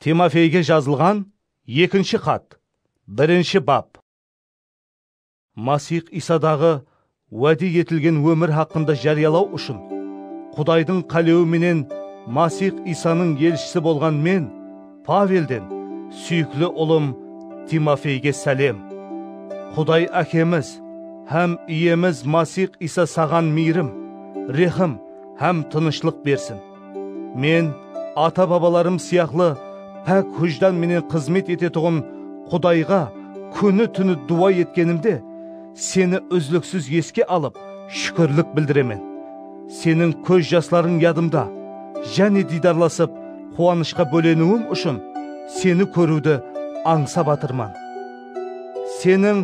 Timofeyge jazılǵan ekinshi xat, birinshi bap. Masix Iysadaǵı wáde etilgen ómir haqqında járiyalaw ushın, Qudaydıń qálewi menen Masix Iysanıń elshisi bolǵan men, Pavelden, súyikli ulım Timofeyge sálem. Quday Ákemiz hám Iyemiz Masix Iysa saǵan miyrim, rehim hám tınıshlıq bersin. Men ata-babalarım sıyaqlı pák hújdan menen xızmet etetuǵın Qudayǵa kúni-túni duwa etkenimde, Seni úzliksiz eske alıp, shúkirlik bildiremen. Seniń kóz jaslarıń yadımda. Jáne diydarlasıp, quwanıshqa bóleniwim ushın Seni kóriwdi ańsap atırman. Seniń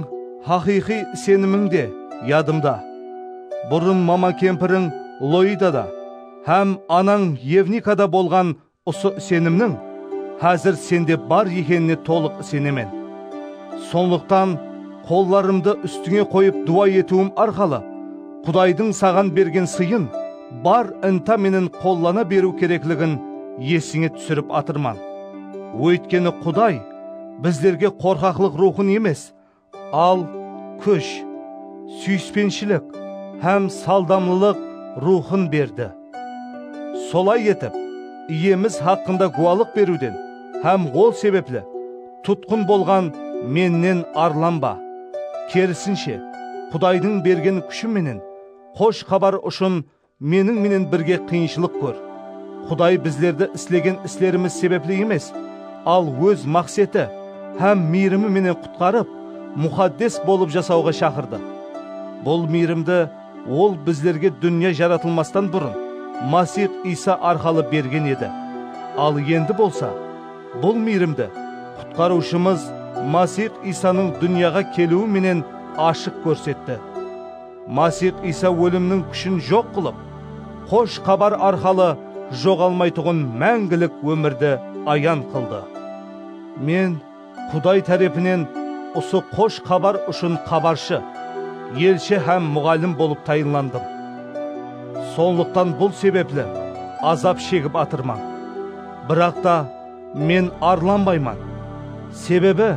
haqıyqıy isenimiń de yadımda. Burın mama-kempiriń Loida da. hám anań Evnikada bolǵan usı isenimniń házir sende bar ekenine tolıq isenemen. Sonlıqtan, qollarımdı ústińe qoyıp duwa etiwim arqalı Qudaydıń saǵan bergen sıyın bar inta menen qollana beriw kerekligin esińe túsirip atırman. Óytkeni Quday bizlerge qorqaqlıq ruwxın emes, Al, kúsh, súyispenshilik hám saldamlılıq ruwxın berdi. Solay etip, Iyemiz haqqında guwalıq beriwden hám ol sebepli tutqın bolǵan mennen arlanba. Kerisinshe, Qudaydıń bergen kúshi menen Xosh Xabar ushın Meniń menen birge qıyınshılıq kór. Quday bizlerdi islegen islerimiz sebepli emes, al Óz maqseti hám miyrimi menen qutqarıp, muxaddes bolıp jasawǵa shaqırdı. Bul miyrimdi Ol bizlerge dúnya jaratılmastan burın Masix Iysa arqalı bergen edi. Al endi bolsa, bul miyrimdi Qutqarıwshımız Masix Iysanıń dúnyaǵa keliwi menen ashıq kórsetti. Masix Iysa ólimniń kúshin joq qılıp, Xosh Xabar arqalı joǵalmaytuǵın máńgilik ómirdi ayan qıldı. Men Quday tárepinen usı Xosh Xabar ushın xabarshı, elshi hám muǵallim bolıp tayınlandım. Sonlıqtan bul sebepli azap shegip atırman. Biraqta, Men arlanbayman, sebebi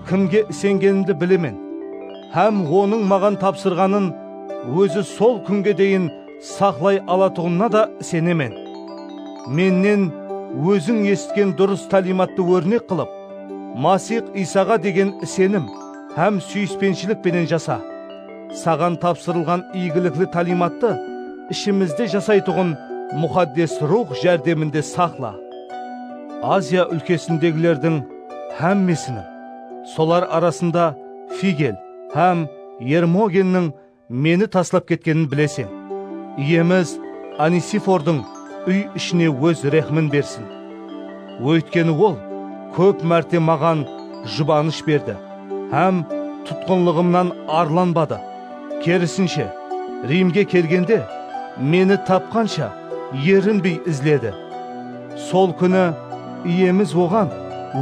kimge isengenimdi bilemen hám Onıń maǵan tapsırǵanın Ózi sol kúnge deyin saqlay alatuǵınına da isenemen. Mennen óziń esitken durıs táliymattı órnek qılıp, Masix Iysaǵa degen isenim hám súyispenshilik penen jasa. Saǵan tapsırılǵan iygilikli táliymattı ishimizde jasaytuǵın Muxaddes Ruwx járdeminde saqla. Aziya úlkesindegilerdiń hámmesiniń, solar arasında Figel hám Ermogenniń meni taslap ketkenin bileseń. Iyemiz Onesifordıń úy-ishine óz rehmin bersin. Óytkeni ol kóp márte maǵan jubanısh berdi hám tutqınlıǵımnan arlanbadı. Kerisinshe, Rimge kelgende, meni tapqansha erinbey izledi. Sol kúni Iyemiz oǵan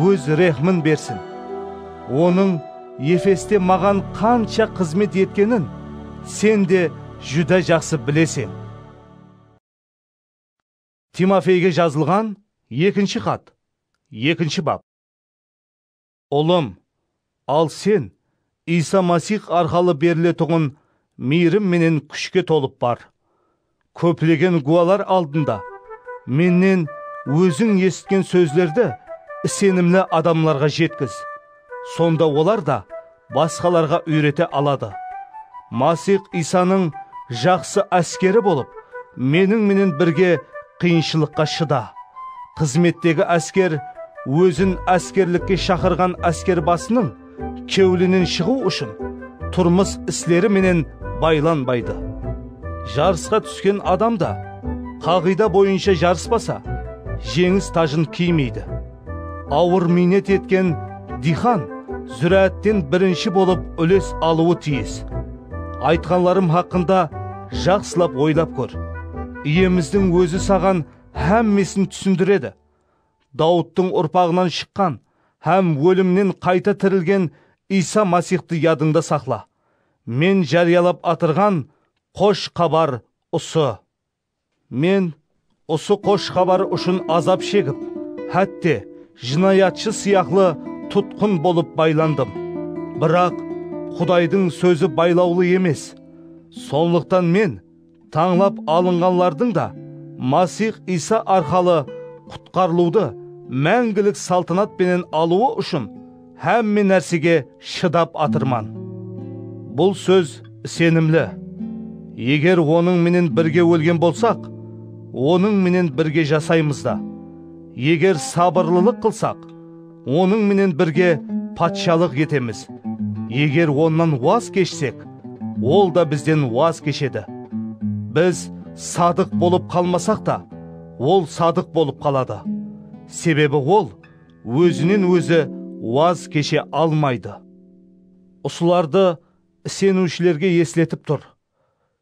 Óz rehmin bersin. Onıń Efeste maǵan qansha xızmet etkenin sen de júdá jaqsı bileseń. Timofeyge jazılǵan ekinshi xat, ekinshi bap. Ulım, al sen Iysa Masix arqalı beriletuǵın miyrim menen kúshke tolıp bar. Kóplegen gúwalar aldında mennen óziń esitken sózlerdi isenimli adamlarǵa jetkiz, sonda olar da basqalarǵa úyrete aladı. Masix Iysanıń jaqsı áskeri bolıp, meniń menen birge Qıyınshılıqqa shıda. Xızmettegi ásker ózin áskerlikke shaqırǵan áskerbasınıń kewlinen shıǵıw ushın turmıs isleri menen baylanbaydı. Jarısqa túsken adam da qaǵıyda boyınsha jarıspasa, jeńis tajın kiymeydi. Awır miynet etken diyxan zúráátten birinshi bolıp úles alıwı tiyis. Aytqanlarım haqqında jaqsılap oylap kór. Iyemizdiń Ózi saǵan hámmesin túsindiredi. Dawıttıń urpaǵınan shıqqan hám ólimnen qayta tirilgen Iysa Masixtı yadıńda saqla. Men járiyalap atırǵan Qosh Xabar usı. Men usı xosh xabar ushın azap shegip, hátte, jınayatshı sıyaqlı tutqın bolıp baylandım. Biraq Qudaydıń sózi baylawlı emes. Sonlıqtan men tańlap alınǵanlardıń da Masix Iysa arqalı qutqarılıwdı máńgilik saltanat penen alıwı ushın, Hámme nársege shıdap atırman. Bul sóz isenimli. Eger Onıń menen birge ólgen bolsaq, Onıń menen birge jasaymız da. Eger sabırlılıq qılsaq, Onıń menen birge patshalıq etemiz. Eger Onnan waz keshsek, Ol da bizden waz keshedi. Biz sadıq bolıp qalmasaq ta, Ol sadıq bolıp qaladı. Sebebi Ol ózinen ózi waz keshe almaydı. Usılardı iseniwshilerge esletip tur.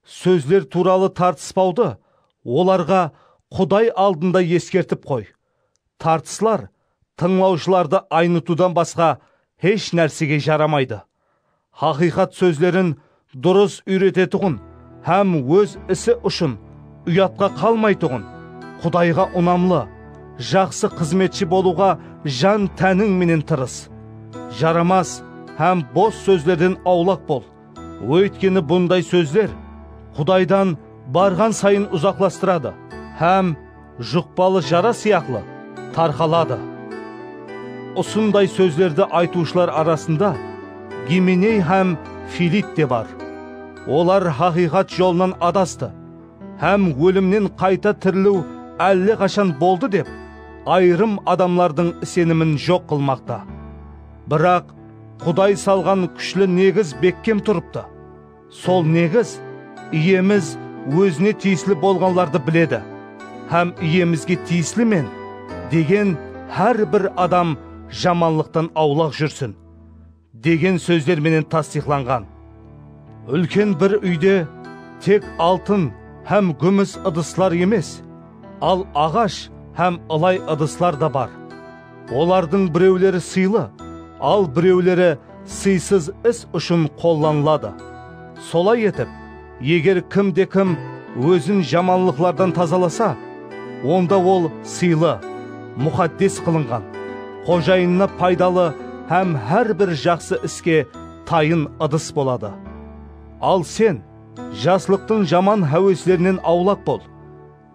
Sózler tuwralı tartıspawdı olarǵa Quday aldında eskertip qoy. Tartıslar tıńlawshılardı aynıtıwdan basqa hesh nársege jaramaydı. Haqıyqat sózlerin durıs úyretetuǵın hám óz isi ushın uyatqa qalmaytuǵın, Qudayǵa unamlı, jaqsı xızmetshi bolıwǵa jan-tániń menen tırıs. Jaramas hám bos sózlerden awlaq bol, óytkeni bunday sózler Qudaydan barǵan sayın uzaqlastıradı hám. Juqpalı jara sıyaqlı tarqaladı. Usınday sózlerdi aytıwshılar arasında Gimeney hám Filit te bar. Olar haqıyqat jolınan adastı hám ólimnen qayta tiriliw álleqashan boldı dep, ayırım adamlardıń isenimin joq qılmaqta. Biraq, Quday salǵan kúshli negiz bekkem turıptı. Sol negiz, Iyemiz Ózine tiyisli bolǵanlardı biledi hám Iyemizge tiyislimen degen hár bir adam jamanlıqtan awlaq júrsin, degen sózler menen tastıyıqlanǵan. Úlken bir úyde tek altın hám gúmis ıdıslar emes, al aǵash hám ılay ıdıslar da bar. Olardıń birewleri sıylı, al birewleri sıysız is ushın qollanıladı. Solay etip, eger kim de kim ózin jamanlıqlardan tazalasa, onda ol sıylı, muxaddes qılınǵan, xojayınına paydalı hám hár bir jaqsı iske tayın ıdıs boladı. Al sen, jaslıqtıń jaman háweslerinen awlaq bol.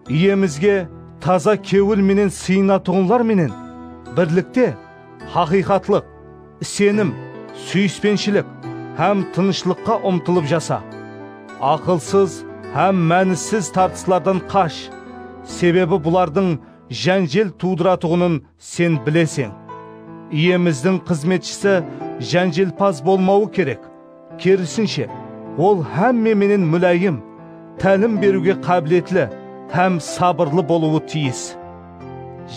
Iyemizge taza kewil menen sıyınatuǵınlar menen birlikte haqıyqatlıq, isenim, súyispenshilik hám tınıshlıqqa umtılıp jasa. Aqılsız hám mánisiz tartıslardan qash, sebebi bulardıń jánjel tuwdıratuǵının Sen bileseń, Iyemizdiń xızmetshisi jánjelpaz bolmawı kerek, kerisinshe, ol hámme menen múláyim, tálim beriwge qábiletli hám sabırlı bolıwı tiyis.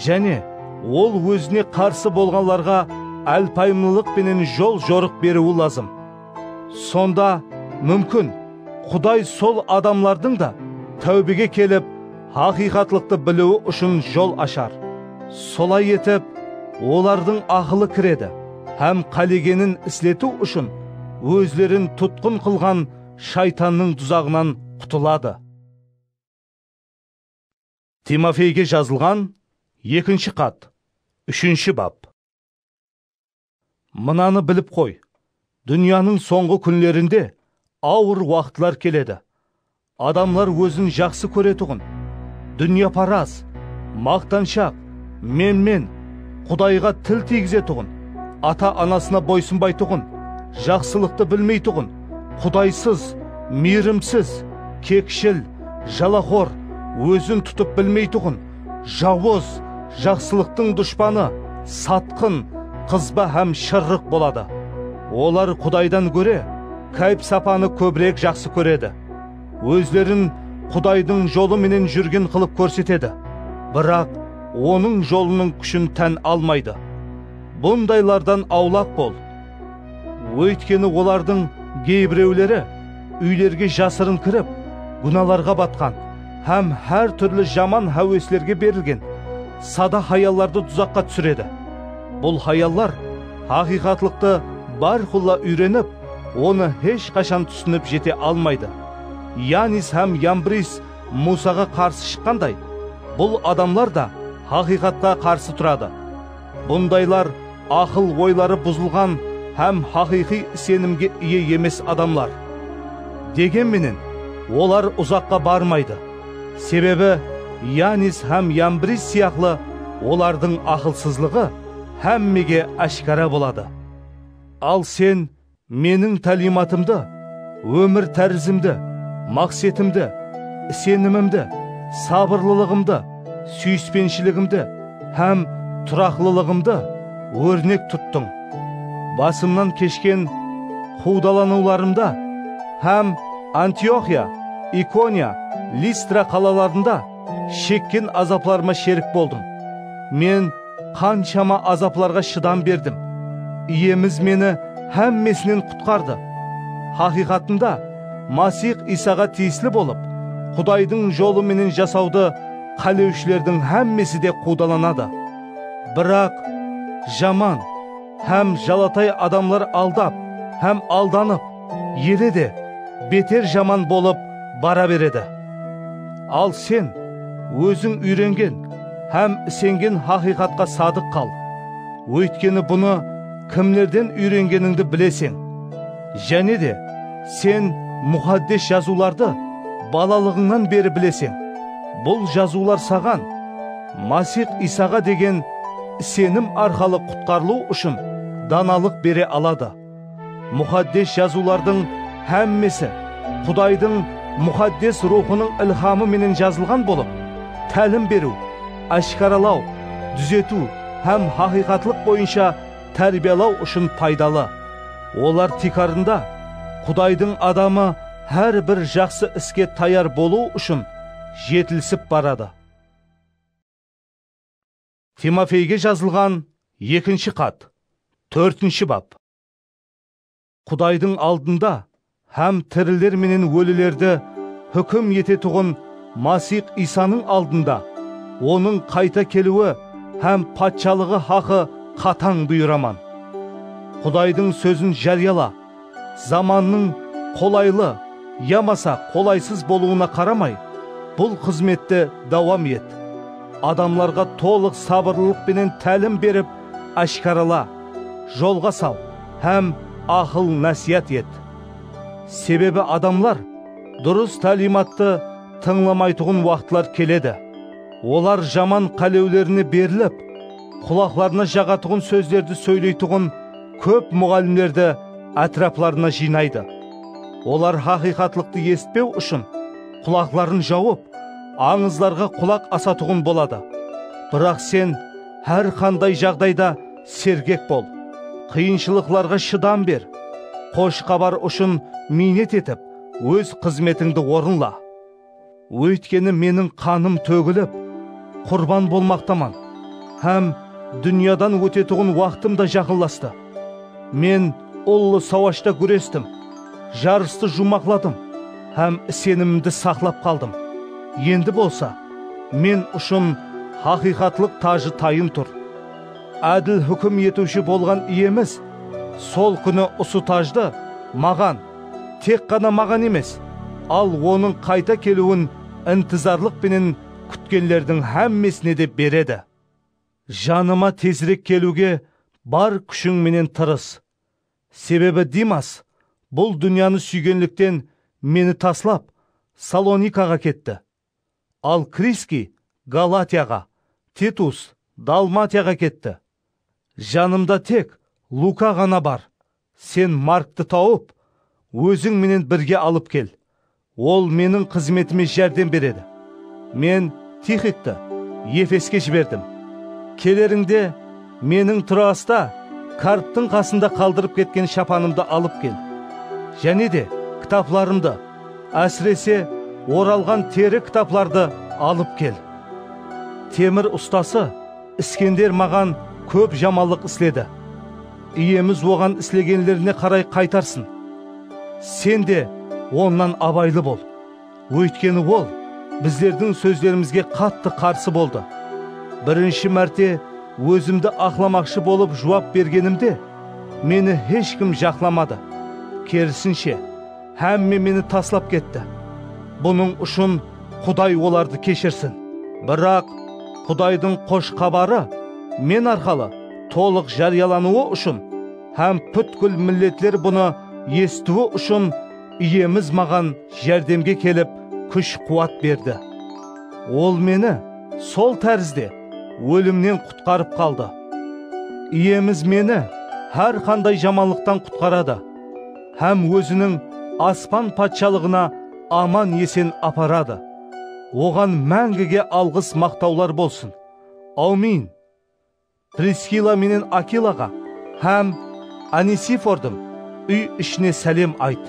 Jáne, ol ózine qarsı bolǵanlarǵa álpayımlılıq penen jol-jorıq beriwi lazım. Sonda, múmkin, Quday sol adamlardıń da táwbege kelip, haqıyqatlıqtı biliwi ushın jol ashar. Solay etip, olardıń aqılı kiredi hám qálegenin isletiw ushın ózlerin tutqın qılǵan Shaytannıń duzaǵınan qutıladı. Timofeyge jazılǵan ekinshi xat úshinshi bap. Mınanı bilip qoy, dúnyanıń sońǵı kúnlerinde awır waqıtlar keledi. Adamlar ózin jaqsı kóretuǵın, dúnyaparaz, maqtanshaq, menmen, Qudayǵa til tiygizetuǵın, ata-anasına boysınbaytuǵın, jaqsılıqtı bilmeytuǵın, qudaysız, miyrimsiz, kekshil, jalaxor, ózin tutıp bilmeytuǵın, jawız, jaqsılıqtıń dushpanı, satqın, qızba hám shırrıq boladı. Olar Qudaydan góre kayp-sapanı kóbirek jaqsı kóredi. Ózlerin Qudaydıń jolı menen júrgen qılıp kórsetedi, biraq Onıń jolınıń kúshin tán almaydı. Bundaylardan awlaq bol! Óytkeni olardıń geybirewleri úylerge jasırın kirip, gúnalarǵa batqan hám hár túrli jaman háweslerge berilgen sada hayallardı duzaqqa túsiredi. Bul hayallar haqıyqatlıqtı bárqulla úyrenip, onı hesh qashan túsinip jete almaydı. Yanis hám Yambris Muwsaǵa qarsı shıqqanday, bul adamlar da haqıyqatqa qarsı turadı. Bundaylar aqıl oyları buzılǵan hám haqıyqıy isenimge iye emes adamlar. Degen menen, olar uzaqqa barmaydı, sebebi Yanis hám Yambris sıyaqlı olardıń aqılsızlıǵı hámmege áshkara boladı. Al sen Meniń táliymatımdı, ómir tárizimdi, maqsetimdi, isenimimdi, sabırlılıǵımdı, súyispenshiligimdi hám turaqlılıǵımdı órnek tuttıń. Basımnan keshken quwdalanıwlarımda hám Antioxiya, Ikoniya, Listra qalalarında shekken azaplarıma sherik boldıń. Men Qanshama azaplarǵa shıdam berdim. Iyemiz meni hámmesinen qutqardı. Haqıyqatında, Masix Iysaǵa tiyisli bolıp, Qudaydıń jolı menen jasawdı qálewshilerdiń hámmesi de quwdalanadı. Biraq, jaman hám jalatay adamlar aldap hám aldanıp, Ele de beter jaman bolıp bara beredi. Al sen, óziń úyrengen hám isengen haqıyqatqa sadıq qal, óytkeni bunı kimlerden úyrengenińdi bileseń. Jáne de, sen Muxaddes Jazıwlardı balalıǵıńnan beri bileseń. Bul Jazıwlar saǵan Masix Iysaǵa degen isenim arqalı qutqarılıw ushın danalıq bere aladı. Muxaddes Jazıwlardıń hámmesi Qudaydıń Muxaddes Ruwxınıń ilhamı menen jazılǵan bolıp, tálim beriw, áshkaralaw, dúzetiw hám haqıyqatlıq boyınsha tárbiyalaw ushın paydalı. Olar tiykarında, Qudaydıń adamı hár bir jaqsı iske tayar bolıwı ushın jetilisip baradı. Timofeyge jazılǵan ekinshi xat, tórtinshi bap. Qudaydıń aldında hám tiriler menen ólilerdi húkim etetuǵın Masix Iysanıń aldında Onıń qayta keliwi hám Patshalıǵı haqı qatań buyıraman. Qudaydıń sózin járiyala! Zamannıń qolaylı yamasa qolaysız bolıwına qaramay, bul xızmetti dawam et. Adamlarǵa tolıq sabırlılıq penen tálim berip, áshkarala, jolǵa sal hám aqıl-násiyat et. Sebebi adamlar durıs táliymattı tıńlamaytuǵın waqıtlar keledi. Olar jaman qálewlerine berilip, Qulaqlarına jaǵatuǵın sózlerdi sóyleytuǵın kóp muǵallimlerdi átiraplarına jıynaydı. Olar haqıyqatlıqtı esitpew ushın qulaqların jawıp, ańızlarǵa qulaq asatuǵın boladı. Biraq sen hár qanday jaǵdayda sergek bol. Qıyınshılıqlarǵa shıdam ber. Xosh xabar ushın miynet etip, óz xızmetińdi orınla. Óytkeni meniń qanım tógilip, qurban bolmaqtaman hám dúnyadan ótetuǵın waqtım da jaqınlastı. Men ullı sawashta gúrestim, jarıstı juwmaqladım hám isenimimdi saqlap qaldım. Endi bolsa men ushın haqıyqatlıq tajı tayın tur. Ádil húkim etiwshi bolǵan Iyemiz sol kúni usı tajdı maǵan, tek ǵana maǵan emes, al Onıń qayta keliwin intizarlıq penen kútkenlerdiń hámmesine de beredi. Janıma tezirek keliwge bar kúshiń menen tırıs. Sebebi Dimas bul dúnyanı súygenlikten meni taslap, Salonikaǵa ketti. Al Kriskiy Galatiyaǵa, Titus Dalmatiyaǵa ketti. Janımda tek Luka ǵana bar. Sen Markti tawıp, óziń menen birge alıp kel. Ol meniń xızmetime járdem beredi. Men Tixikti Efeske jiberdim. Kelerińde, Meniń Troasta karptıń qasında qaldırıp ketken shapanımdı alıp kel. Jáne de, kitaplarımdı, ásirese, oralǵan teri kitaplardı alıp kel. Temir ustası Iskender maǵan kóp jamanlıq isledi. Iyemiz oǵan islegenlerine qaray qaytarsın. Sen de onnan abaylı bol. Óytkeni ol bizlerdiń sózlerimizge qattı qarsı boldı. Birinshi márte ózimdi aqlamaqshı bolıp juwap bergenimde, meni hesh kim jaqlamadı, kerisinshe, hámme meni taslap ketti. Bunıń ushın Quday olardı keshirsin. Biraq, Qudaydıń Xosh Xabarı men arqalı tolıq járiyalanıwı ushın hám pútkil milletler bunı esitiwi ushın, Iyemiz maǵan járdemge kelip, kúsh-quwat berdi. Ol meni sol tárizde ólimnen qutqarıp qaldı. Iyemiz meni hár qanday jamanlıqtan qutqaradı hám Óziniń aspan patshalıǵına aman-esen aparadı. Oǵan máńgige alǵıs-maqtawlar bolsın! Awmin! Priskila menen Akilaǵa hám Onesifordıń úy-ishine sálem ayt.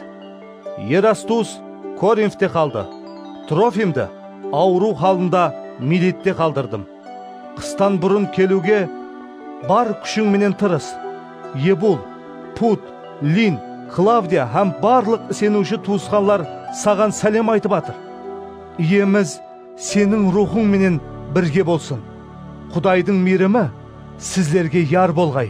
Erastus Korinfte qaldı, Trofimdi awırıw halında Milette qaldırdım. Qıstan burın keliwge bar kúshiń menen tırıs. Ebul, Pud, Lin, Klavdiya hám barlıq iseniwshi tuwısqanlar saǵan sálem aytıp atır. Iyemiz Seniń ruwxıń menen birge bolsın! Qudaydıń miyrimi sizlerge yar bolǵay!